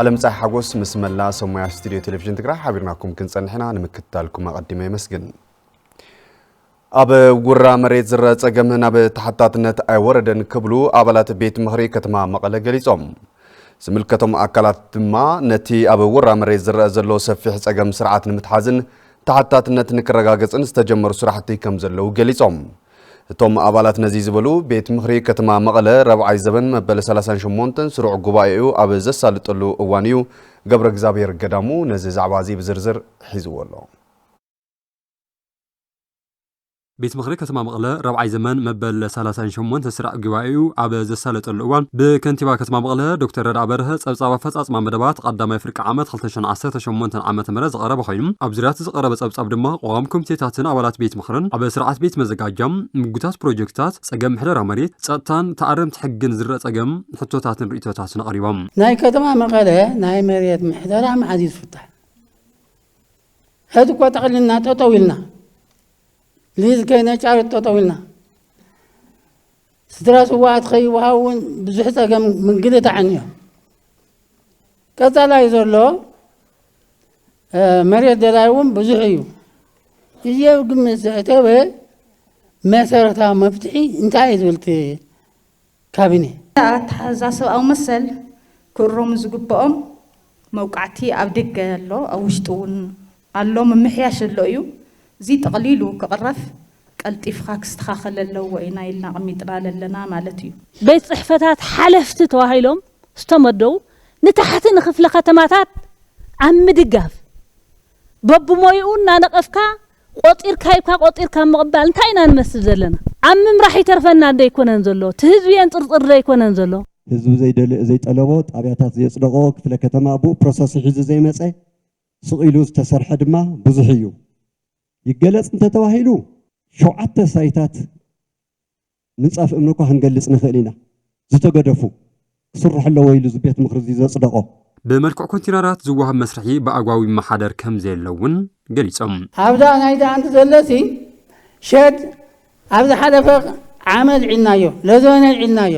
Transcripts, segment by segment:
ኣለምፀሐ ሓጎስ ምስ መላ ሰብ ሞያ ስቱድዮ ቴሌቪዥን ትግራይ ሓቢርናኩም ክንፀንሕ ኢና ንምክትታልኩም ኣቐዲመ የመስግን ኣብ ጉራ መሬት ዝረ ፀገም ናብ ተሓታትነት ኣይወረደን ክብሉ ኣባላት ቤት ምኽሪ ከተማ መቐለ ገሊፆም ዝምልከቶም ኣካላት ድማ ነቲ ኣብ ውራ መሬት ዝረአ ዘሎ ሰፊሕ ፀገም ስርዓት ንምትሓዝን ተሓታትነት ንክረጋገፅን ዝተጀመሩ ስራሕቲ ከም ዘለዉ ገሊፆም እቶም ኣባላት ነዚ ዝበሉ፣ ቤት ምኽሪ ከተማ መቐለ ራብዓይ ዘበን መበል ሰላሳን ሸሞንተን ስሩዕ ጉባኤኡ ኣብ ዘሳልጠሉ እዋን እዩ። ገብረእግዝኣብሄር ገዳሙ ነዚ ዛዕባ እዚ ብዝርዝር ሒዝዎ ኣሎ። ቤት ምኽሪ ከተማ መቐለ ራብዓይ ዘመን መበል ሰላሳን ሸሞንተን ስራዕ ጉባኤኡ ኣብ ዘሳለጠሉ እዋን ብከንቲባ ከተማ መቐለ ዶክተር ረድኣ በርሀ ፀብፃብ ኣፈፃፅማ መደባት ቐዳማይ ፍርቂ ዓመት ክልተ ሽሕን ዓሰርተ ሸሞንተን ዓመተ ምህረት ዝቐረበ ኮይኑ ኣብ ዙርያ እቲ ዝቐረበ ፀብፃብ ድማ ቋሚ ኮሚቴታትን ኣባላት ቤት ምኽርን ኣብ ስርዓት ቤት መዘጋጃ፣ ምጉታት ፕሮጀክትታት፣ ፀገም ምሕደራ መሬት፣ ፀጥታን ተኣረምቲ ሕግን ዝርእ ፀገም ሕቶታትን ርእይቶታትን ኣቕሪቦም። ናይ ከተማ መቐለ ናይ መሬት ምሕደራ መዓዝ እዩ ዝፍታሕ? ሕዚ እኮ ጠቕሊልና ጠጠው ኢልና፣ ሊዝ ከይነጫርት ጠጠው ኢልና፣ ስድራ ስውኣት ከይወሃቡ እውን ብዙሕ ፀገም ምግልታዕን እዮ። ቀፃላይ ዘሎ መሬት ደላይ እውን ብዙሕ እዩ እዚ ኣብ ግምት ዘእተወ መሰረታዊ መፍትሒ እንታይ እዩ ዝብል እቲ ካቢኔ ኣተሓዛ ሰብኣዊ መሰል ክእረሙ ዝግበኦም መውቃዕቲ ኣብ ደገ ኣሎ ኣብ ውሽጢ እውን ኣሎ ምምሕያሽ ኣሎ እዩ እዚ ጠቅሊሉ ክቅረፍ ቀልጢፍካ ክስተካከል ኣለዎ ኢና ኢልና ኣቅሚጥና ለለና ማለት እዩ። ቤት ፅሕፈታት ሓለፍቲ ተዋሂሎም ዝተመደቡ ንታሕቲ ንክፍለ ከተማታት ኣብ ምድጋፍ በብሞይኡ እናነቀፍካ ቆፂርካ ሂብካ ቆፂርካ ምቅባል እንታይ ኢና ንመስል ዘለና ኣብ ምምራሕ ይተርፈና ዶ ኣይኮነን ዘሎ እቲ ህዝቢ የንፅርፅር ዶ ኣይኮነን ዘሎ። ህዝቢ ዘይደለዮ ዘይጠለቦ ጣብያታት ዘየፅደቆ ክፍለ ከተማ ቡኡ ፕሮሰሱ ሒዙ ዘይመፀ ስቕ ኢሉ ዝተሰርሐ ድማ ብዙሕ እዩ። ይገለጽ እንተተባሂሉ ሸውዓተ ሳይታት ምንጻፍ እምኒ እኳ ክንገልጽ ንኽእል ኢና፣ ዝተገደፉ። ክስርሑ ኣለዎ ኢሉ እዚ ቤት ምኽሪ እዚ ዘጽደቖ። ብመልክዕ ኮንቲነራት ዝወሃብ መስርሒ ብኣግባቡ ይመሓደር ከምዘየሎ እውን ገሊጾም። ኣብዛ ናይ ዳኣንት ዘለሲ ሸድ ኣብ ዝሓለፈ ዓመት ዒናዮ ለዘነ ዒናዮ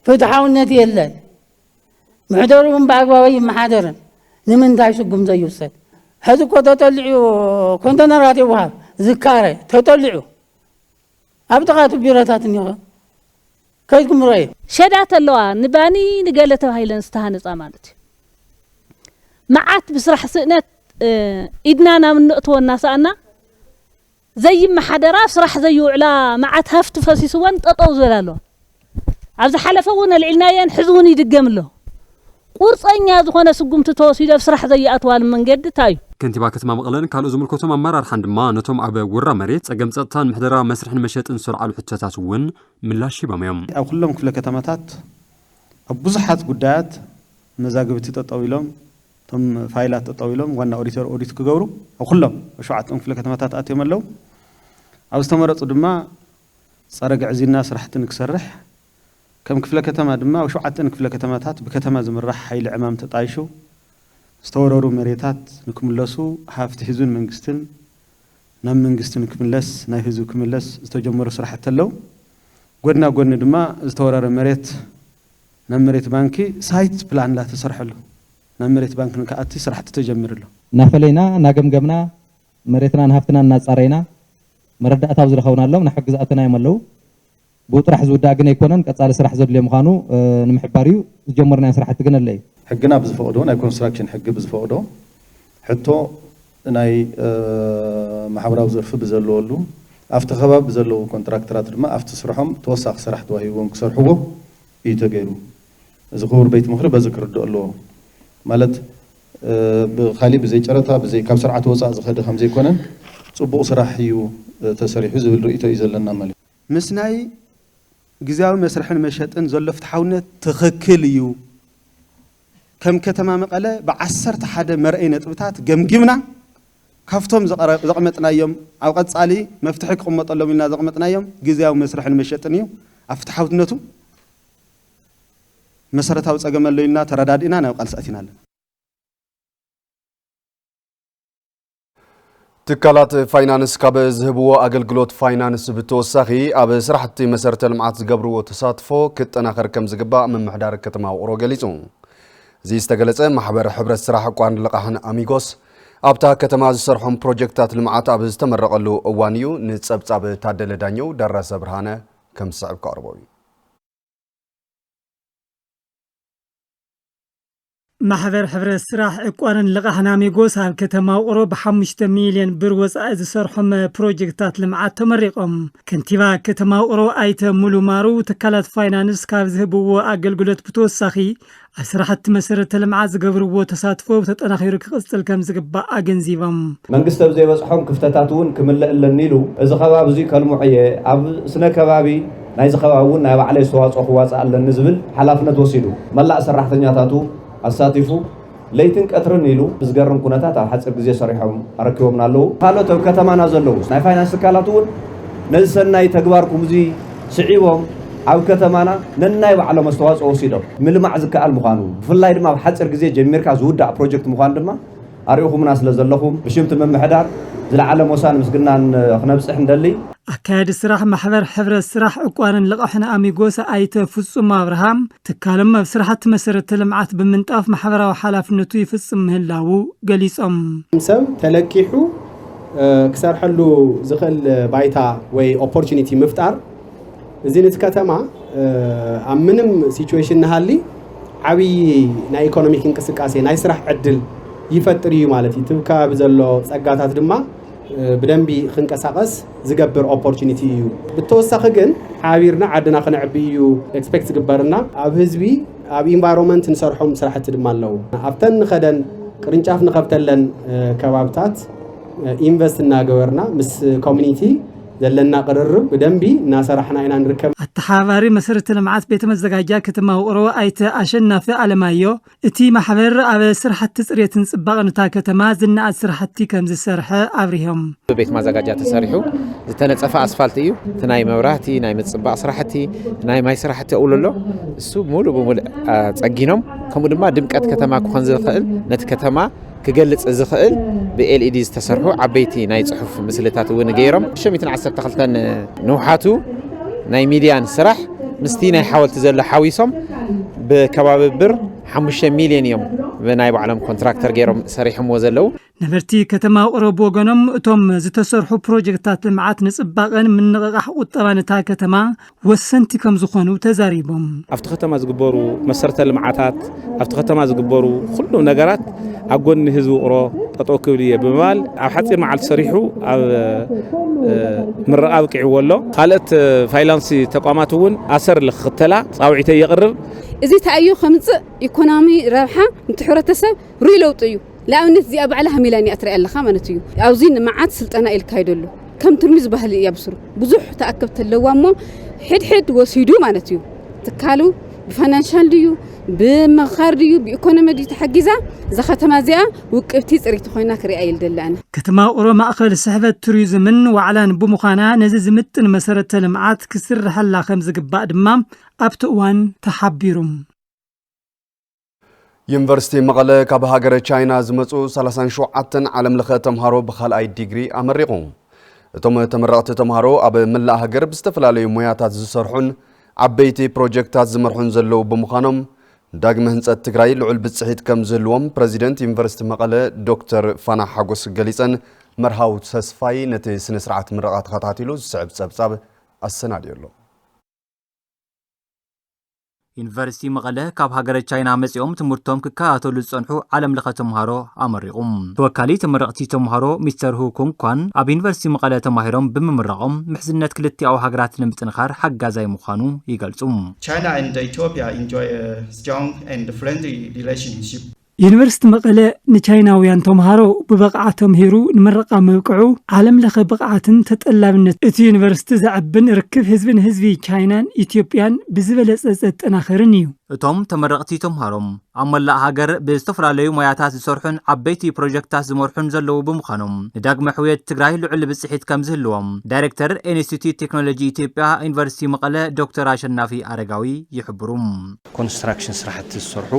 ፍትሓውነት የለን። ምሕደሩ እውን ብኣግባብ ኣይመሓደርን። ንምንታይ ስጉምቲ ዘይውሰድ? ሕዚ እኮ ተጠሊዑ ኮንተነራት ይወሃብ ዝካረ ተጠሊዑ ኣብ ጥቓ እቲ ቢሮታት እኒሆ ከይድኩም ርአዩ። ሸዳት ኣለዋ ንባኒ ንገለ ተባሂለን ዝተሃነፃ ማለት እዩ። መዓት ብስራሕ ስእነት ኢድና ናብ እነእትዎ እናሰኣና ዘይመሓደራ ኣብ ስራሕ ዘይውዕላ መዓት ሃፍቲ ፈሲስወን ጠጠው ዝበላ ኣለዋ ኣብ ዝሓለፈ እውን ኣልዒልናዮ እየን ሕዚ እውን ይድገም ኣሎ ቁርፀኛ ዝኾነ ስጉምቲ ተወሲዱ ኣብ ስራሕ ዘይኣትዋሉ መንገዲ እንታይ እዩ? ከንቲባ ከተማ መቐለን ካልኦት ዝምልከቶም ኣመራርሓን ድማ ነቶም ኣብ ውራ መሬት፣ ፀገም ፀጥታን ምሕደራ መስርሕን መሸጥን ዝተልዓሉ ሕቶታት እውን ምላሽ ሂቦም እዮም። ኣብ ኩሎም ክፍለ ከተማታት ኣብ ብዙሓት ጉዳያት መዛግብቲ ጠጠው ኢሎም፣ እቶም ፋይላት ጠጠው ኢሎም ዋና ኦዲተር ኦዲት ክገብሩ ኣብ ኩሎም ኣብ ሸውዓተኦም ክፍለ ከተማታት ኣትዮም ኣለው። ኣብ ዝተመረፁ ድማ ፀረ ግዕዝይና ስራሕቲ ንክሰርሕ ከም ክፍለ ከተማ ድማ ኣብ ሸውዓተን ክፍለ ከተማታት ብከተማ ዝምራሕ ሓይሊ ዕማም ተጣይሹ ዝተወረሩ መሬታት ንክምለሱ ሃፍቲ ህዝብን መንግስትን ናብ መንግስቲ ንክምለስ ናብ ህዝቢ ክምለስ ዝተጀመሩ ስራሕቲ ኣለው። ጎድና ጎድኒ ድማ ዝተወረረ መሬት ናብ መሬት ባንኪ ሳይት ፕላን እንዳተሰርሐ ኣሎ። ናብ መሬት ባንኪ ንክኣቲ ስራሕቲ ተጀሚሩ ኣሎ። እናፈለይና እናገምገምና መሬትናን ሃፍትናን እናፃረይና መረዳእታ ኣብ ዝረኸብናሎም ናብ ሕጊ ዘኣተናዮም ኣለው። ብኡ ጥራሕ ዝውዳእ ግን ኣይኮነን ቀፃሊ ስራሕ ዘድልዮ ምዃኑ ንምሕባር እዩ። ዝጀመርናዮ ስራሕቲ ግን ኣለ እዩ። ሕግና ብዝፈቕዶ ናይ ኮንስትራክሽን ሕጊ ብዝፈቕዶ ሕቶ ናይ ማሕበራዊ ዘርፊ ብዘለወሉ፣ ኣብቲ ከባቢ ብዘለዉ ኮንትራክተራት ድማ ኣብቲ ስርሖም ተወሳኺ ስራሕ ተዋሂብዎም ክሰርሕዎ እዩ ተገይሩ። እዚ ክቡር ቤት ምኽሪ በዚ ክርድኦ ኣለዎ። ማለት ብኻሊእ ብዘይ ጨረታ ብዘይ ካብ ስርዓት ወፃእ ዝኸደ ከምዘይኮነን ፅቡቕ ስራሕ እዩ ተሰሪሑ ዝብል ርእይቶ እዩ ዘለና ማለት እዩ። ምስ ናይ ግዝያዊ መስርሕን መሸጥን ዘሎ ፍትሓውነት ትኽክል እዩ። ከም ከተማ መቐለ ብዓሰርተ ሓደ መርኣዪ ነጥብታት ገምጊምና ካብቶም ዘቐመጥናዮም ኣብ ቐፃሊ መፍትሒ ክቕመጠሎም ኢልና ዘቕመጥናዮም ግዝያዊ መስርሕን መሸጥን እዩ። ኣብ ፍትሓውትነቱ መሰረታዊ ፀገም ኣሎ ኢልና ተረዳዲእና ናብ ቓልሲ ኣቲና ኣለና። ትካላት ፋይናንስ ካብ ዝህብዎ ኣገልግሎት ፋይናንስ ብተወሳኺ ኣብ ስራሕቲ መሰረተ ልምዓት ዝገብርዎ ተሳትፎ ክጠናኸር ከም ዝግባእ ምምሕዳር ከተማ ውቕሮ ገሊፁ። እዚ ዝተገለፀ ማሕበር ሕብረት ስራሕ ቋርን ልቓሕን ኣሚጎስ ኣብታ ከተማ ዝሰርሖም ፕሮጀክታት ልምዓት ኣብ ዝተመረቐሉ እዋን እዩ። ንፀብፃብ ታደለ ዳኘው ደረሰ ብርሃነ ከም ዝስዕብ ከቕርቦ እዩ። ማሕበር ሕብረት ስራሕ ዕቋርን ልቓሕ ናሚጎስ ኣብ ከተማ ውቕሮ ብሓሙሽተ ሚልዮን ብር ወፃኢ ዝሰርሖም ፕሮጀክትታት ልምዓት ተመሪቖም። ከንቲባ ከተማ ውቕሮ ኣይተ ሙሉ ማሩ ትካላት ፋይናንስ ካብ ዝህብዎ ኣገልግሎት ብተወሳኺ ኣብ ስራሕቲ መሰረተ ልምዓት ዝገብርዎ ተሳትፎ ተጠናኺሩ ክቕፅል ከምዝግባእ ኣገንዚቦም። መንግስቲ ኣብ ዘይበፅሖም ክፍተታት እውን ክምልእ ኣለኒ ኢሉ። እዚ ከባቢ እዙይ ከልምዖ እየ፣ ኣብ ስነ ከባቢ ናይዚ ከባቢ እውን ናይ ባዕለይ ኣስተዋፅኦ ክዋፅእ ኣለኒ ዝብል ሓላፍነት ወሲዱ መላእ ሰራሕተኛታቱ ኣሳቲፉ ለይትን ቀትርን ኢሉ ብዝገርም ኩነታት ኣብ ሓፂር ግዜ ሰሪሖም ኣረኪቦምና ኣለዉ። ካልኦት ኣብ ከተማና ዘለዉ ናይ ፋይናንስ ትካላት እውን ነዚ ሰናይ ተግባርኩም እዙይ ስዒቦም ኣብ ከተማና ነናይ ባዕሎም ኣስተዋፅኦ ወሲዶም ምልማዕ ዝከኣል ምዃኑ ብፍላይ ድማ ኣብ ሓፂር ግዜ ጀሚርካ ዝውዳእ ፕሮጀክት ምዃኑ ድማ ኣሪእኹምና ስለ ዘለኹም ብሽም እቲ ምምሕዳር ዝለዓለ ሞሳን ምስግናን ክነብፅሕ ንደሊ። ኣካያዲ ስራሕ ማሕበር ሕብረት ስራሕ ዕቋርን ልቓሕን ኣሚጎስ ኣይተ ፍፁም ኣብርሃ ትካሎም ኣብ ስራሕቲ መሰረተ ልምዓት ብምንጣፍ ማሕበራዊ ሓላፍነቱ ይፍፅም ምህላዉ ገሊፆም። ሰብ ተለቂሑ ክሰርሐሉ ዝኽእል ባይታ ወይ ኦፖርቹኒቲ ምፍጣር እዚ ነቲ ከተማ ኣብ ምንም ሲቹዌሽን ንሃሊ ዓብዪ ናይ ኢኮኖሚክ እንቅስቃሴ ናይ ስራሕ ዕድል ይፈጥር እዩ ማለት እዩ። እቲ ከባቢ ዘሎ ፀጋታት ድማ ብደንቢ ክንቀሳቀስ ዝገብር ኦፖርቲኒቲ እዩ ብተወሳኺ ግን ሓቢርና ዓድና ክነዕቢ እዩ ኤክስፔክት ዝግበርና ኣብ ህዝቢ ኣብ ኢንቫይሮንመንት ንሰርሖም ስራሕቲ ድማ ኣለዉ ኣብተን ንኸደን ቅርንጫፍ ንኸብተለን ከባብታት ኢንቨስት እናገበርና ምስ ኮሚኒቲ ዘለና ቅርርብ ብደንቢ እናሰራሕና ኢና ንርከብ። ኣተሓባባሪ መሰረተ ልምዓት ቤተ መዘጋጃ ከተማ ውቕሮ ኣይተ ኣሸናፊ ኣለማዮ እቲ ማሕበር ኣብ ስራሕቲ ፅሬትን ፅባቐን እታ ከተማ ዝነኣድ ስራሕቲ ከምዝሰርሐ ኣብሪሆም። ብቤት ማዘጋጃ ተሰሪሑ ዝተነፀፈ ኣስፋልት እዩ። እቲ ናይ መብራህቲ፣ ናይ ምፅባቕ ስራሕቲ፣ ናይ ማይ ስራሕቲ እውሉ ኣሎ። እሱ ሙሉእ ብሙሉእ ፀጊኖም ከምኡ ድማ ድምቀት ከተማ ክኾን ዝኽእል ነቲ ከተማ ክገልጽ ዝኽእል ብኤልኢዲ ዝተሰርሑ ዓበይቲ ናይ ጽሑፍ ምስልታት እውን ገይሮም። ሸሚትን ዓሰርተ ክልተን ንውሓቱ ናይ ሚድያን ስራሕ ምስቲ ናይ ሓወልቲ ዘሎ ሓዊሶም ብከባቢ ብር ሓሙሽተ ሚልዮን እዮም ብናይ ባዕሎም ኮንትራክተር ገይሮም ሰሪሖምዎ ዘለዉ። ነበርቲ ከተማ ውቕሮ ብወገኖም እቶም ዝተሰርሑ ፕሮጀክትታት ልምዓት ንፅባቐን ምንቕቓሕ ቁጠባን እታ ከተማ ወሰንቲ ከምዝኾኑ ተዛሪቦም። ኣብቲ ከተማ ዝግበሩ መሰረተ ልምዓታት፣ ኣብቲ ከተማ ዝግበሩ ኩሉም ነገራት ኣብ ጎኒ ህዝቢ ውቕሮ ጠጠው ክብል እየ ብምባል ኣብ ሓፂር መዓልቲ ሰሪሑ ኣብ ምረቓ ኣብቂዕዎ ኣሎ። ካልኦት ፋይናንስ ተቋማት እውን ኣሰር ንክኽተላ ፃውዒተይ የቕርብ። እዚ ተኣዮ ከምፅእ ኢኮኖሚ ረብሓ ንትሕብረተሰብ ርኡይ ለውጢ እዩ። ንኣብነት እዚኣ ባዕላ ሃሚላኒ እያ ትርኣ ኣለካ ማለት እዩ ኣብዚ ንመዓት ስልጠና ኢልካ ይደሉ ከም ትርሚ ዝበህል እያ ብስሩ ብዙሕ ተኣከብቲ ኣለዋ እሞ ሕድሕድ ወሲዱ ማለት እዩ ትካሉ ብፋይናንሻል ድዩ ብምኻር ድዩ ብኢኮኖሚ ድዩ ተሓጊዛ እዛ ከተማ እዚኣ ውቅብቲ ፅሪቲ ኮይና ክሪኣ ይልደለ ኣነ ከተማ ውቕሮ ማእኸል ስሕበት ቱሪዝምን ዋዕላን ብምዃና ነዚ ዝምጥን መሰረተ ልምዓት ክስርሐላ ከምዝግባእ ድማ ኣብቲ እዋን ተሓቢሩ። ዩኒቨርሲቲ መቐለ ካብ ሃገረ ቻይና ዝመፁ 37 ዓለም ለኸ ተምሃሮ ብካልኣይ ዲግሪ ኣመሪቑ። እቶም ተመረቕቲ ተምሃሮ ኣብ መላእ ሃገር ብዝተፈላለዩ ሞያታት ዝሰርሑን ዓበይቲ ፕሮጀክትታት ዝመርሑን ዘለዉ ብምዃኖም ዳግመ ህንፀት ትግራይ ልዑል ብፅሒት ከም ዝህልዎም ፕረዚደንት ዩኒቨርሲቲ መቐለ ዶክተር ፋና ሓጎስ ገሊፀን። መርሃዊ ተስፋይ ነቲ ስነ ስርዓት ምረቓ ተኸታቲሉ ዝስዕብ ፀብፃብ ኣሰናዲኡ ኣሎ። ዩኒቨርሲቲ መቐለ ካብ ሃገረ ቻይና መጺኦም ትምህርቶም ክከታተሉ ዝጸንሑ ዓለም ለኸ ተምሃሮ ኣመሪቑ። ተወካሊ ተመረቕቲ ተምሃሮ ሚስተር ሁ ኩንግ ኳን ኣብ ዩኒቨርሲቲ መቐለ ተማሂሮም ብምምራቖም ምሕዝነት ክልቲኣዊ ሃገራት ንምጥንኻር ሓጋዛይ ምዃኑ ይገልጹ። ዩኒቨርሲቲ መቐለ ንቻይናውያን ተምሃሮ ብብቕዓት ተምሂሩ ንምረቓ ምብቅዑ ዓለም ለኸ ብቕዓትን ተጠላብነት እቲ ዩኒቨርሲቲ ዘዕብን ርክብ ህዝቢ ንህዝቢ ቻይናን ኢትዮጵያን ብዝበለፀ ዘጠናኽርን እዩ። እቶም ተመረቕቲ ተምሃሮ ኣብ መላእ ሃገር ብዝተፈላለዩ ሞያታት ዝሰርሑን ዓበይቲ ፕሮጀክትታት ዝመርሑን ዘለዉ ብምዃኖም ንዳግመ ሕውየት ትግራይ ልዑል ብፅሒት ከምዝህልዎም ዳይሬክተር ኢንስቲትዩት ቴክኖሎጂ ኢትዮጵያ ዩኒቨርሲቲ መቐለ ዶክተር ኣሸናፊ ኣረጋዊ ይሕብሩ። ኮንስትራክሽን ስራሕቲ ዝሰርሑ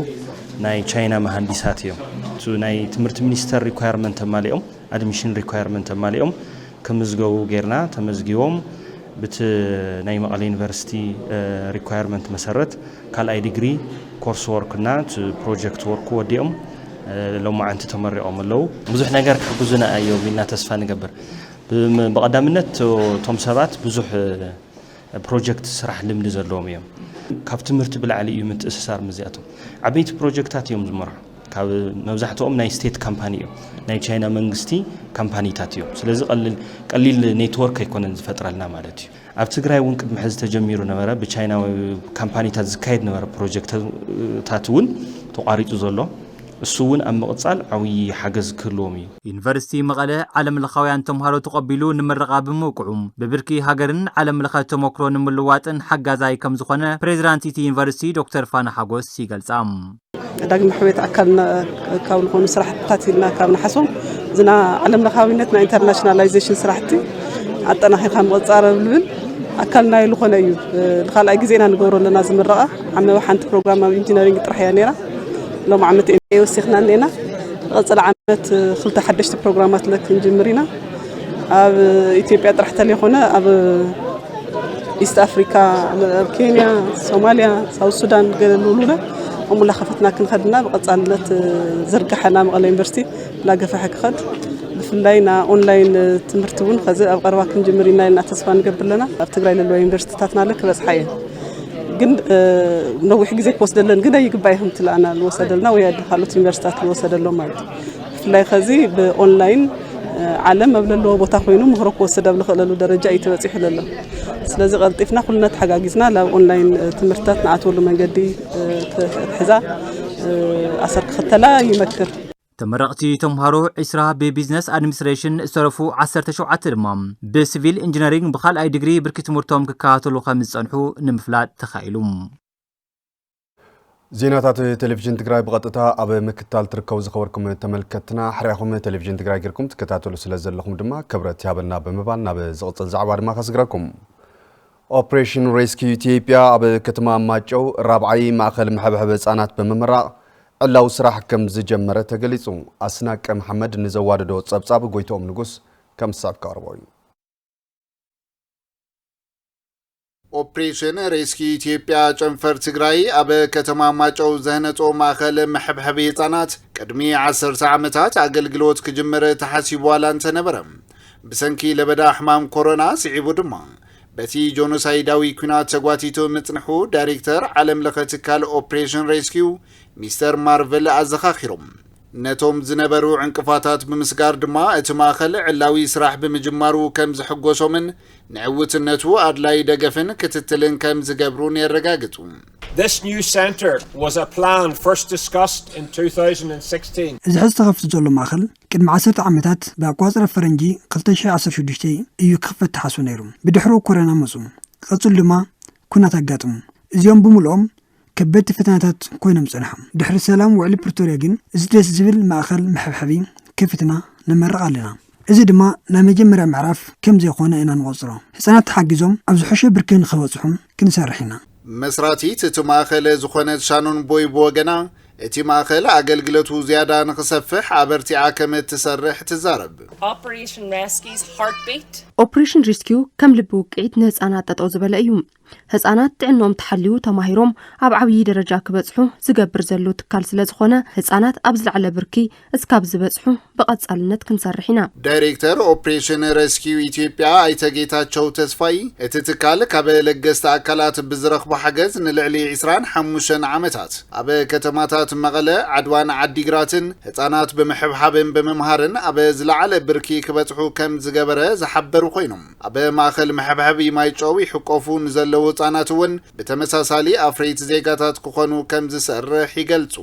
ናይ ቻይና መሃንዲሳት እዮም። እቲ ናይ ትምህርቲ ሚኒስተር ሪኳየርመንት ኣማሊኦም ኣድሚሽን ሪኳየርመንት ኣማሊኦም ክምዝገቡ ጌርና ተመዝጊቦም ብቲ ናይ መቐለ ዩኒቨርሲቲ ሪኳየርመንት መሰረት ካልኣይ ዲግሪ ኮርስ ወርክ እና እቲ ፕሮጀክት ወርክ ወዲኦም ሎማዓንቲ ተመሪቖም ኣለው። ብዙሕ ነገር ክሕግዙና እዮም ኢልና ተስፋ ንገብር። ብቐዳምነት እቶም ሰባት ብዙሕ ናይ ፕሮጀክት ስራሕ ልምዲ ዘለዎም እዮም። ካብ ትምህርቲ ብላዕሊ እዩ ምትእስሳር ምስዚኣቶም። ዓበይቲ ፕሮጀክታት እዮም ዝመርሑ። ካብ መብዛሕትኦም ናይ ስቴት ካምፓኒ እዮም። ናይ ቻይና መንግስቲ ካምፓኒታት እዮም። ስለዚ ቀሊል ኔትወርክ ኣይኮነን ዝፈጥረልና ማለት እዩ። ኣብ ትግራይ እውን ቅድሚ ሕዚ ተጀሚሩ ነበረ። ብቻይናዊ ካምፓኒታት ዝካየድ ነበረ ፕሮጀክትታት እውን ተቋሪፁ ዘሎ። እሱ እውን ኣብ ምቕፃል ዓብዪ ሓገዝ ክህልዎም እዩ። ዩኒቨርሲቲ መቐለ ዓለም ለኻውያን ተምሃሮ ተቐቢሉ ንምረቓ ብምብቅዑ ብብርኪ ሃገርን ዓለም ለኸ ተሞክሮ ንምልዋጥን ሓጋዛይ ከምዝኾነ ፕሬዚዳንት እቲ ዩኒቨርሲቲ ዶክተር ፋና ሓጎስ ይገልፃ። ዳግመ ሕውየት ኣካል ካብ ዝኾኑ ስራሕትታት ኢልና ካብ ንሓስቦም እዚ ናይ ዓለም ለኻዊነት ናይ ኢንተርናሽናላይዜሽን ስራሕቲ ኣጠናኺርካ ምቕፃር ዝብል ኣካል ናይ ዝኾነ እዩ ንካልኣይ ግዜና ንገብሮ ኣለና እዚ ምረቓ ዓመበ ሓንቲ ፕሮግራም ኣብ ኢንጂነሪንግ ጥራሕ እያ ነይራ ሎም ዓመት ኤምኤ ወሲኽና ኣለና ንቐፅል ዓመት ክልተ ሓደሽቲ ፕሮግራማት ለ ክንጅምር ኢና ኣብ ኢትዮጵያ ጥራሕ ተለይኮነ ኣብ ኢስት ኣፍሪካ ኣብ ኬንያ ሶማልያ ሳውት ሱዳን ገለሉሉለ እሙላ ከፈትና ክንኸድና ብቐፃልነት ዝርግሐና መቐለ ዩኒቨርሲቲ ላገፈሐ ክኸድ ብፍላይ ና ኦንላይን ትምህርቲ እውን ከዚ ኣብ ቀረባ ክንጅምር ኢና ኢልና ተስፋ ንገብር ኣለና ኣብ ትግራይ ለለዋ ዩኒቨርሲቲታትና ለ ክበፅሓ እየን ግን ነዊሕ ግዜ ክወስደለን ግደ ይግባእ ይኹም ትለኣና ልወሰደልና ወይ ኣደ ካልኦት ዩኒቨርሲታት ልወሰደሎ ማለት እዩ ብፍላይ ከዚ ብኦንላይን ዓለም ኣብ ዘለዎ ቦታ ኮይኑ ምህሮ ክወስድ ኣብ ዝኽእለሉ ደረጃ እዩ ተበፂሑ ዘሎ ስለዚ ቀልጢፍና ኩልና ተሓጋጊዝና ናብ ኦንላይን ትምህርትታት ንኣትወሉ መንገዲ ክትሕዛ ኣሰር ክኽተላ ይመክር ተመረቕቲ ተምሃሮ ዒስራ ብቢዝነስ ኣድሚኒስትሬሽን ዝተረፉ ዓሰርተ ሸውዓተ ድማ ብሲቪል ኢንጂነሪንግ ብካልኣይ ዲግሪ ብርኪ ትምህርቶም ክከታተሉ ከም ዝፀንሑ ንምፍላጥ ተኻኢሉ። ዜናታት ቴሌቪዥን ትግራይ ብቐጥታ ኣብ ምክታል ትርከቡ ዝኸበርኩም ተመልከትና ሕርያኹም ቴሌቪዥን ትግራይ ጌርኩም ትከታተሉ ስለ ዘለኹም ድማ ክብረት ይሃበልና ብምባል ናብ ዝቕፅል ዛዕባ ድማ ከስግረኩም ኦፕሬሽን ሬስኪዩ ኢትዮጵያ ኣብ ከተማ ማጨው ራብዓይ ማእኸል መሐብሐቢ ህፃናት ብምምራቕ ዕላዊ ስራሕ ከም ዝጀመረ ተገሊፁ። ኣስናቀ መሓመድ ንዘዋደዶ ፀብፃብ ጎይትኦም ንጉስ ከም ዝስዕብ ከቕርቦ እዩ። ኦፕሬሽን ሬስኪዩ ኢትዮጵያ ጨንፈር ትግራይ ኣብ ከተማ ማጨው ዘህነፆ ማእኸል መሐብሐቢ ህፃናት ቅድሚ ዓሰርተ ዓመታት ኣገልግሎት ክጅምር ተሓሲቡ ዋላ እንተነበረ ብሰንኪ ለበዳ ሕማም ኮሮና ስዒቡ ድማ በቲ ጆኖሳይዳዊ ኲናት ተጓቲቱ ምጽንሑ ዳይሬክተር ዓለም ለኸ ትካል ኦፕሬሽን ሬስኪው ሚስተር ማርቨል ኣዘኻኺሮም። ነቶም ዝነበሩ ዕንቅፋታት ብምስጋር ድማ እቲ ማእኸል ዕላዊ ስራሕ ብምጅማሩ ከም ዝሕጎሶምን ንዕውትነቱ ኣድላዪ ደገፍን ክትትልን ከም ዝገብሩን የረጋግጹ። This new centre was a plan first discussed in 2016. እዚ ሕዚ ተኸፊቱ ዘሎ ማእኸል ቅድሚ ዓሰርተ ዓመታት ብኣቆጻጽራ ፈረንጂ ክልተ ሽሕ ዓሰርተ ሽዱሽተ እዩ ክኽፈት ተሓስቡ ነይሩ። ብድሕሩ ኮረና መጹ። ክቕጽል ድማ ኩናት ኣጋጥሙ። እዚኦም ብምልኦም ከበድቲ ፈተናታት ኮይኖም ጸንሖም። ድሕሪ ሰላም ውዕሊ ፕርቶርያ ግን እዚ ደስ ዝብል ማእከል መሐብሐቢ ከፊትና ንመርቕ ኣለና። እዚ ድማ ናይ መጀመርያ ምዕራፍ ከም ዘይኮነ ኢና ንቖጽሮ። ህጻናት ተሓጊዞም ኣብ ዝሐሸ ብርኪ ንኽበጽሑ ክንሰርሕ ኢና። መስራቲት እቲ ማእኸለ ዝኾነት ሻኖን ቦይ ብወገና፣ እቲ ማእኸል ኣገልግለቱ ዝያዳ ንኽሰፍሕ ኣበርቲዓ ከምእትሰርሕ ትዛረብ። ኦፕሬሽን ሪስኪው ከም ልቢ ውቅዒት ንህፃናት ጠጠው ዝበለ እዩ። ህፃናት ጥዕንኦም ተሓልዩ ተማሂሮም ኣብ ዓብዪ ደረጃ ክበፅሑ ዝገብር ዘሎ ትካል ስለዝኾነ ህፃናት ኣብ ዝለዓለ ብርኪ እስካብ ዝበፅሑ ብቐፃልነት ክንሰርሕ ኢና። ዳይሬክተር ኦፕሬሽን ረስኪው ኢትዮጵያ ኣይተ ጌታቸው ተስፋይ፣ እቲ ትካል ካብ ለገስቲ ኣካላት ብዝረኽቦ ሓገዝ ንልዕሊ ዕስራን ሓሙሽተን ዓመታት ኣብ ከተማታት መቐለ፣ ዓድዋን ዓዲግራትን ህፃናት ብምሕብሓብን ብምምሃርን ኣብ ዝለዓለ ብርኪ ክበፅሑ ከምዝገበረ ዝሓበሩ ኮይኖም፣ ኣብ ማእኸል መሕብሐቢ ማይጨው ይሕቆፉ ንዘለዉ ህፃናት እውን ብተመሳሳሊ ኣፍረይቲ ዜጋታት ክኾኑ ከምዝሰርሕ ይገልፁ።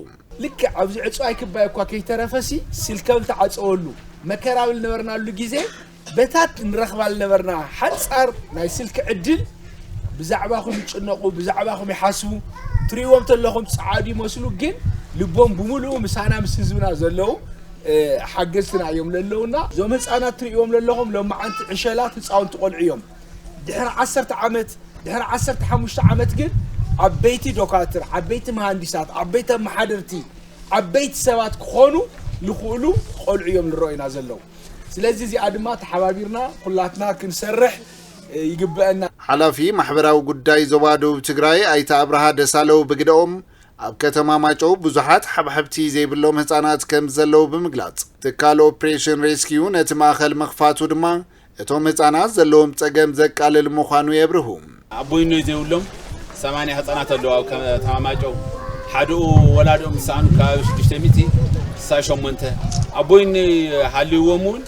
ልክዕ ኣብዚ ዕጹዋይ ክባይ እኳ ከይተረፈሲ ስልከም ተዓጸወሉ መከራ ኣብ ልነበርናሉ ግዜ በታት ንረኽባ ልነበርና ሓጻር ናይ ስልኪ ዕድል ብዛዕባኹም ይጭነቑ ብዛዕባኹም ይሓስቡ ትርእይዎም ተለኹም ጸዓዱ ይመስሉ ግን ልቦም ብምሉኡ ምሳና ምስ ህዝብና ዘለዉ ሓገዝትና እዮም ለለውና እዞም ህፃናት ትርእይዎም ለለኹም ሎማዓንቲ ዕሸላት ህፃውንቲ ቆልዑ እዮም ድሕሪ ዓሰርተ ዓመት ድሕሪ ዓሰርተ ሓሙሽተ ዓመት ግን ዓበይቲ ዶካትር ዓበይቲ መሃንዲሳት ዓበይቲ ኣመሓደርቲ ዓበይቲ ሰባት ክኾኑ ልኽእሉ ቆልዑ እዮም ዝረኦዩና ዘለዉ ስለዚ እዚኣ ድማ ተሓባቢርና ኩላትና ክንሰርሕ ይግበአና ሓላፊ ማሕበራዊ ጉዳይ ዞባ ደቡብ ትግራይ ኣይተ ኣብርሃ ደሳለው ብግደኦም ኣብ ከተማ ማጨው ብዙሓት ሓብሓብቲ ዘይብሎም ህፃናት ከም ዘለዉ ብምግላፅ ትካል ኦፕሬሽን ሬስኪዩ ነቲ ማእኸል ምኽፋቱ ድማ እቶም ህፃናት ዘለዎም ፀገም ዘቃልል ምዃኑ የብርሁ። ኣቦይኖይ ዘይብሎም ሰማንያ ህፃናት ኣለዉ ኣብ ከተማ ማይጨው። ሓደኡ ወላድኦም ምስ ሰኣኑ ከባቢ ሽዱሽተ ሚእቲ ስሳይ ሸሞንተ ኣቦይኖይ ሃልይዎም እውን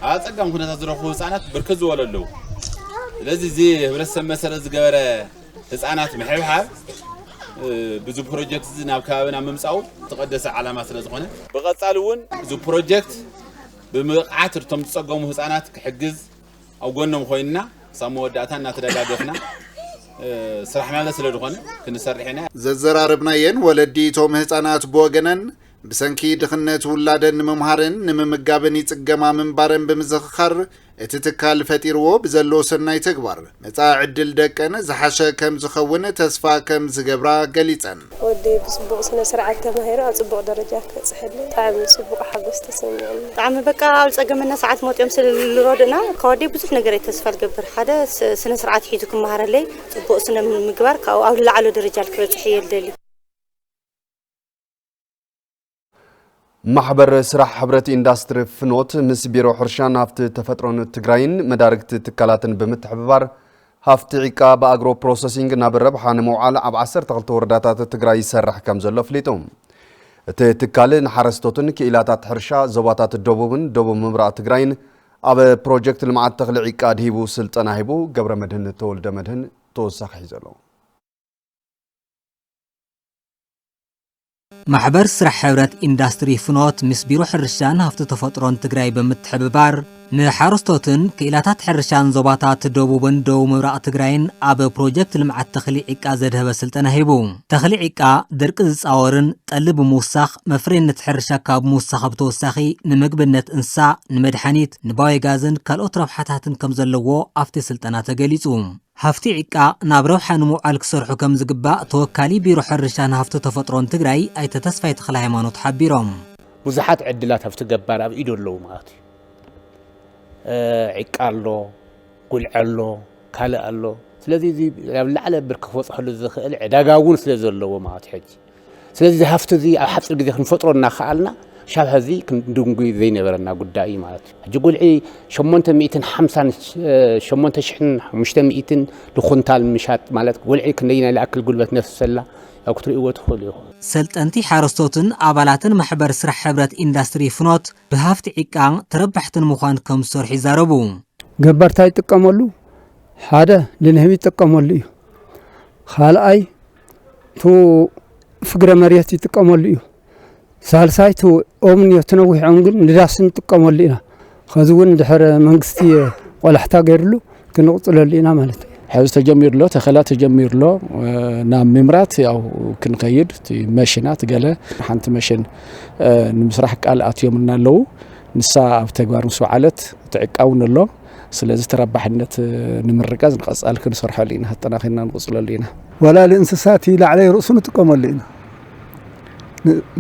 ኣብ ኣፀጋሚ ኩነታት ዝረኽቡ ህፃናት ብርክት ዝበሉ ኣለዉ። ስለዚ እዚ ህብረተሰብ መሰረት ዝገበረ ህፃናት ምሕብሓብ ብዚ ፕሮጀክት እዚ ናብ ከባቢና ምምፃኡ ዝተቐደሰ ዓላማ ስለዝኾነ ብቐፃሊ እውን እዚ ፕሮጀክት ብምብቕዓት እቶም ዝፀገሙ ህፃናት ክሕግዝ ኣብ ጎኖም ኮይንና ክሳብ መወዳእታ እናተደጋገፍና ስራሕናለ ስለ ዝኾነ ክንሰርሕ ኢና። ዘዘራረብናየን ወለዲ እቶም ህፃናት ብወገነን ብሰንኪ ድኽነት ውላደን ንምምሃርን ንምምጋብን ይፅገማ ምንባረን ብምዝኽኻር እቲ ትካል ፈጢርዎ ብዘሎ ሰናይ ተግባር መጻኢ ዕድል ደቀን ዝሓሸ ከም ዝኸውን ተስፋ ከም ዝገብራ ገሊጸን። ወደይ ብጽቡቕ ስነ ስርዓት ተማሂሩ ኣብ ጽቡቕ ደረጃ ክበጽሐለይ ብጣዕሚ ጽቡቕ ሓጎስ ተሰሚዑኒ። ብጣዕሚ በቃ ኣብ ዝጸገመና ሰዓት መጢኦም ስለ ልረድኡና ካብ ኣደይ ብዙሕ ነገር እየ ተስፋ ልገብር ሓደ ስነ ስርዓት ሒዙ ክመሃረለይ ጽቡቕ ስነ ምግባር ካብኡ ኣብ ልለዓሎ ደረጃ ልክበጽሕ እየ ልደሊ። ማሕበር ስራሕ ሕብረት ኢንዳስትሪ ፍኖት ምስ ቢሮ ሕርሻን ሃፍቲ ተፈጥሮን ትግራይን መዳርግቲ ትካላትን ብምትሕብባር ሃፍቲ ዒቃ ብኣግሮ ፕሮሰሲንግ ናብ ረብሓ ንምውዓል ኣብ 12 ወረዳታት ትግራይ ይሰርሕ ከም ዘሎ ኣፍሊጡ። እቲ ትካል ንሓረስቶትን ክኢላታት ሕርሻ ዞባታት ደቡብን ደቡብ ምብራቕ ትግራይን ኣብ ፕሮጀክት ልምዓት ተኽሊ ዒቃ ኣድሂቡ ስልጠና ሂቡ። ገብረመድህን ተወልደመድህን ተወሳኺ ሒዞ ኣሎ። ማሕበር ስራሕ ሕብረት ኢንዳስትሪ ፍኖት ምስ ቢሮ ሕርሻን ሃፍቲ ተፈጥሮን ትግራይ ብምትሕብባር ንሓረስቶትን ክኢላታት ሕርሻን ዞባታት ደቡብን ደቡብ ምብራቕ ትግራይን ኣብ ፕሮጀክት ልምዓት ተኽሊ ዒቃ ዘድሀበ ስልጠና ሂቡ። ተኽሊ ዒቃ ድርቂ ዝፃወርን ጠሊ ብምውሳኽ መፍረይነት ሕርሻ ካብ ምውሳኽ ብተወሳኺ ንምግብነት እንስሳ፣ ንመድሓኒት፣ ንባዮጋዝን ካልኦት ረብሓታትን ከምዘለዎ ኣብቲ ስልጠና ተገሊፁ። ሃፍቲ ዒቃ ናብ ረብሓ ንምውዓል ክሰርሑ ከምዝግባእ ተወካሊ ቢሮ ሕርሻን ሃፍቲ ተፈጥሮን ትግራይ ኣይተ ተስፋይ ተኽለሃይማኖት ሓቢሮም። ብዙሓት ዕድላት ሃፍቲ ገባር ኣብ ኢዱ ኣለዉ ማለት እዩ። ዒቃ ኣሎ፣ ጉልዒ ኣሎ፣ ካልእ ኣሎ። ስለዚ እዚ ናብ ዝለዓለ ብርኪ ክበፅሐሉ ዝኽእል ዕዳጋ እውን ስለዘለዎ ማለት እዩ ሕጂ። ስለዚ እዚ ሃፍቲ እዚ ኣብ ሓፂር ግዜ ክንፈጥሮ እናኸኣልና ክሻብ ሐዚ ክንድንጉይ ዘይነበረና ጉዳይ እዩ ማለት እዩ። ሕጂ ጉልዒ ሸሞንተ ሚእትን ሓምሳን ሸሞንተ ሽሕን ሓሙሽተ ሚእትን ንኹንታል ምሻጥ ማለት ጉልዒ ክንደይናይ ልኣክል ጉልበት ነፍሰላ ያው ክትርእይዎ ትኽእሉ ኢኹም። ሰልጠንቲ ሓረስቶትን ኣባላትን ማሕበር ስራሕ ሕብረት ኢንዳስትሪ ፍኖት ብሃፍቲ ዒቃ ተረባሕቲ ንምዃን ከም ዝሰርሑ ይዛረቡ። ገባር ታይ ይጥቀመሉ ሓደ ንንህቢ ይጥቀመሉ እዩ ካልኣይ ቱ ፍግረ መሬት ይጥቀመሉ እዩ ሳልሳይ ቱ ኦምን እዮ ትነዊሕ ኦም ግን ንዳስ ንጥቀመሉ ኢና ከዚ እውን ድሕር መንግስቲ ቆላሕታ ገይርሉ ክንቕፅለሉ ኢና ማለት እዩ ሕዚ ተጀሚሩ ኣሎ ተኸላ ተጀሚሩ ኣሎ ናብ ምምራት ያው ክንከይድ መሽናት ገለ ሓንቲ መሽን ንምስራሕ ቃል ኣትዮምና ኣለዉ ንሳ ኣብ ተግባር ምስ በዓለት ትዕቃውን ኣሎ ስለዚ ተረባሕነት ንምርጋፅ ንቐፃሊ ክንሰርሐሉ ኢና፣ ኣጠናኺርና ንቕፅለሉ ኢና። ወላሊ እንስሳት ላዕለይ ርእሱ ንጥቀመሉ ኢና።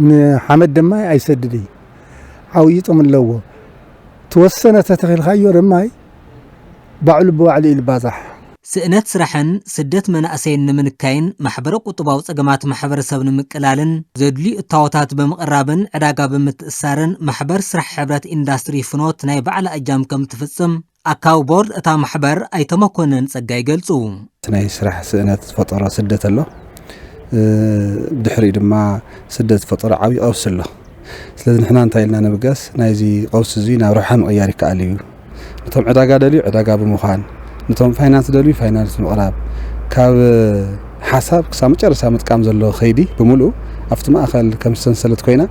ንሓመድ ደማይ ኣይሰድድይ ዓውዪ ጥቕሚ ኣለዎ። ተወሰነ ተተኺልካዮ ደማይ ባዕሉ ብባዕሉ እዩ ልባዛሕ። ስእነት ስራሕን ስደት መናእሰይን ንምንካይን ማሕበረ-ቁጥባዊ ፀገማት ማሕበረሰብ ንምቅላልን ዘድልዩ እታወታት ብምቕራብን ዕዳጋ ብምትእስሳርን ማሕበር ስራሕ ሕብረት ኢንዳስትሪ ፍኖት ናይ ባዕላ እጃም ከምትፍፅም ኣካቢ ቦርድ እታ ማሕበር ኣይተ መኮነን ፀጋይ ይገልፁ። እቲ ናይ ስራሕ ስእነት ዝፈጠሮ ስደት ኣሎ። ብድሕሪኡ ድማ ስደት ዝፈጠሮ ዓብዪ ቀውሲ ኣሎ። ስለዚ ንሕና እንታይ ኢልና ንምገስ ናይዚ ቀውሲ እዚ ናብ ረብሓ ምቕያር ይከኣል እዩ ነቶም ዕዳጋ ደልዩ ዕዳጋ ብምዃን ነቶም ፋይናንስ ዝደልዩ ፋይናንስ ምቕራብ ካብ ሓሳብ ክሳብ መጨረሻ ምጥቃም ዘሎ ከይዲ ብምልኡ ኣብቲ ማእኸል ከም ሰንሰለት ኮይና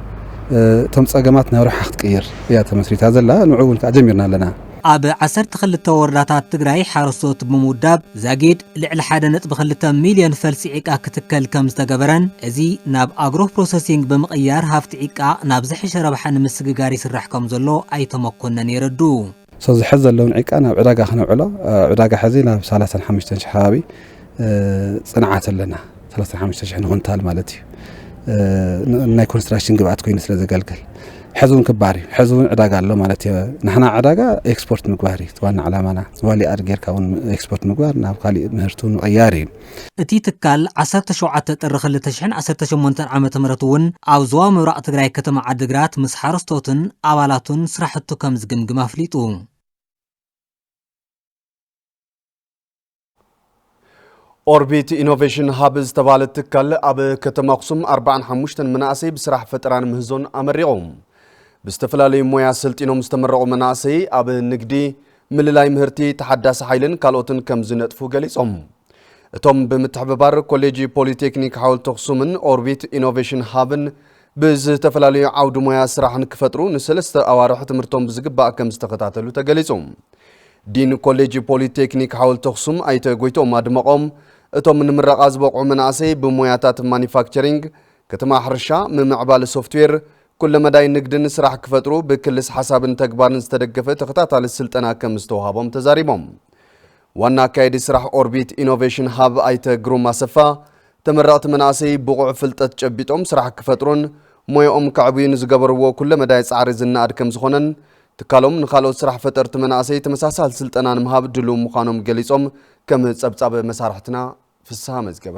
እቶም ፀገማት ናብ ረብሓ ክትቅይር እያ ተመስሪታ ዘላ ንዑ እውን ከዓ ጀሚርና ኣለና። ኣብ ዓሰርተ ክልተ ወረዳታት ትግራይ ሓረስቶት ብምውዳብ ዛጊድ ልዕሊ ሓደ ነጥቢ ክልተ ሚልዮን ፈልሲ ዒቃ ክትከል ከም ዝተገበረን እዚ ናብ ኣግሮ ፕሮሰሲንግ ብምቕያር ሃፍቲ ዒቃ ናብ ዝሐሸ ረብሓ ንምስግጋር ይስራሕ ከም ዘሎ ኣይተ መኮነን የረድኡ። ሰዚ ሐዚ ዘለውን ዒቃ ናብ ዕዳጋ ክነውዕሎ ዕዳጋ ሐዚ ናብ ሰላሳን ሓሙሽተን ሽሕ ከባቢ ፅንዓት ኣለና። ሰላሳን ሓሙሽተ ሽሕን ኹንታል ማለት እዩ ናይ ኮንስትራክሽን ግብኣት ኮይኑ ስለ ዘገልግል ሕዚ እውን ክበሃል እዩ ሕዚ እውን ዕዳጋ ኣሎ ማለት እዩ ንሕና ዕዳጋ ኤክስፖርት ምግባር እዩ ዋና ዕላማና ዝባሊ ኣድ ጌርካ እውን ኤክስፖርት ምግባር ናብ ካሊእ ምህርቲ እውን ምቕያር እዩ እቲ ትካል ዓሰርተ ሸውዓተ ጥሪ ክልተ ሽሕን ዓሰርተ ሸሞንተን ዓመተ ምህረት እውን ኣብ ዞባ ምብራቕ ትግራይ ከተማ ዓዲግራት ምስ ሓረስቶትን ኣባላቱን ስራሕቱ ከም ዝግምግም ኣፍሊጡ። ኦርቢት ኢኖቬሽን ሃብ ዝተባህለ ትካል ኣብ ከተማ ኣኽሱም 45 መናእሰይ ብስራሕ ፈጠራን ምህዞን ኣመሪቑ። ብዝተፈላለዩ ሞያ ሰልጢኖም ዝተመረቑ መናእሰይ ኣብ ንግዲ፣ ምልላይ ምህርቲ፣ ተሓዳሲ ሓይልን ካልኦትን ከም ዝነጥፉ ገሊፆም። እቶም ብምትሕብባር ኮሌጅ ፖሊቴክኒክ ሓወልቲ ኣኽሱምን ኦርቢት ኢኖቬሽን ሃብን ብዝተፈላለዩ ዓውዲ ሞያ ስራሕ ንክፈጥሩ ንሰለስተ ኣዋርሕ ትምህርቶም ብዝግባእ ከም ዝተኸታተሉ ተገሊፁ። ዲን ኮሌጅ ፖሊ ቴክኒክ ሓወልቲ ኣኽሱም ኣይተ ጎይትኦም ኣድመቖም፣ እቶም ንምረቓ ዝበቕዑ መናእሰይ ብሞያታት ማኒፋክቸሪንግ፣ ክትማ ሕርሻ፣ ምምዕባል ሶፍትዌር፣ ኩለ መዳይ ንግድን ስራሕ ክፈጥሩ ብክልስ ሓሳብን ተግባርን ዝተደገፈ ተኸታታሊ ስልጠና ከምዝተውሃቦም ተዛሪቦም። ዋና ኣካየዲ ስራሕ ኦርቢት ኢኖቬሽን ሃብ ኣይተ ግሩም ኣሰፋ ተመረቕቲ መናእሰይ ብቑዕ ፍልጠት ጨቢጦም ስራሕ ክፈጥሩን ሞየኦም ከዕብዩን ዝገበርዎ ኩለ መዳይ ፃዕሪ ዝነኣድ ከምዝኾነን ትካሎም ንካልኦት ስራሕ ፈጠርቲ መናእሰይ ተመሳሳሊ ስልጠና ንምሃብ ድሉው ምዃኖም ገሊፆም ከም ፀብፃብ መሳርሕትና ፍስሃ መዝገበ።